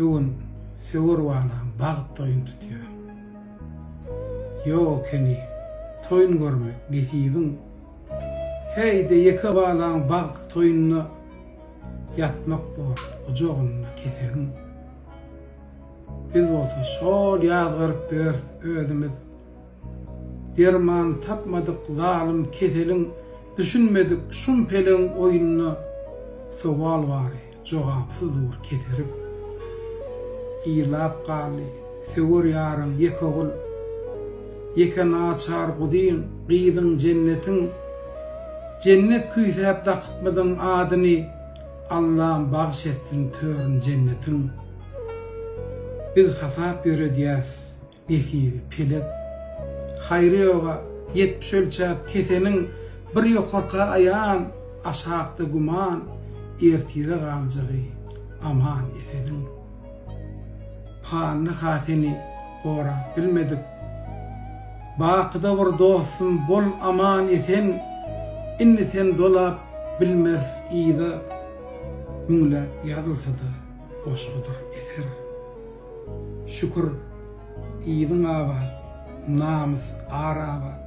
Bu gün söwer balam bagt toýun tutýar. Ýok ekeni toýun görmek nesibin. Häýde ýeke balam bagt toýunda ýatmak bor gujagynda kesegin. Biz bolsa şol ýazgaryp ýörs özümiz. Derman tapmadyk zalym keseliň Düşünmedik şum peleň oýnuna Sowal bary, jogapsyz dur keserip. Ýylap galdy söwer ýaryň ýeke ogul Ýeke naçar guzyň, gyzyň jennetiň Jennet küýsäp dakypmydyň adyny Allam bagş etsin törün jennetiň. Biz hasap ýöredýäs Besibi, pelek, haýry ýoga, ýetmiş ölçäp keseniň, bir ýokarka aýan, aşakda güman, ertire galjagy aman eseniň. Pandy hatyny gorap bilmedik, bakyda bir dostum bol aman esen, indi sen dolap bilmers yza, müňläp ýazylsa-da goşgudyr eser. Şükür, yzyň abat, namys, ar abat.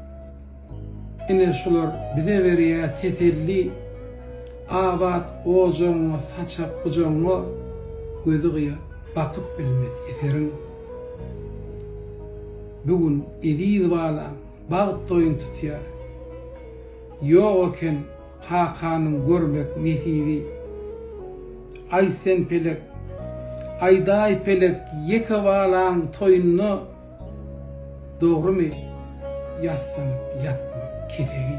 Ine şular bize berýä teselli, Abat ojagyňa saçak gujagyňa, Gözi gyýa, bakyp bilmez eseriň. Bu gün eziz balam, bagt toýun tutýar. Ýok eken Kakanyň görmek nesibi. Aý sen pelek, aýdaý pelek ýeke balaň toýunda dogrymy ýatsaň ýatma kesegi.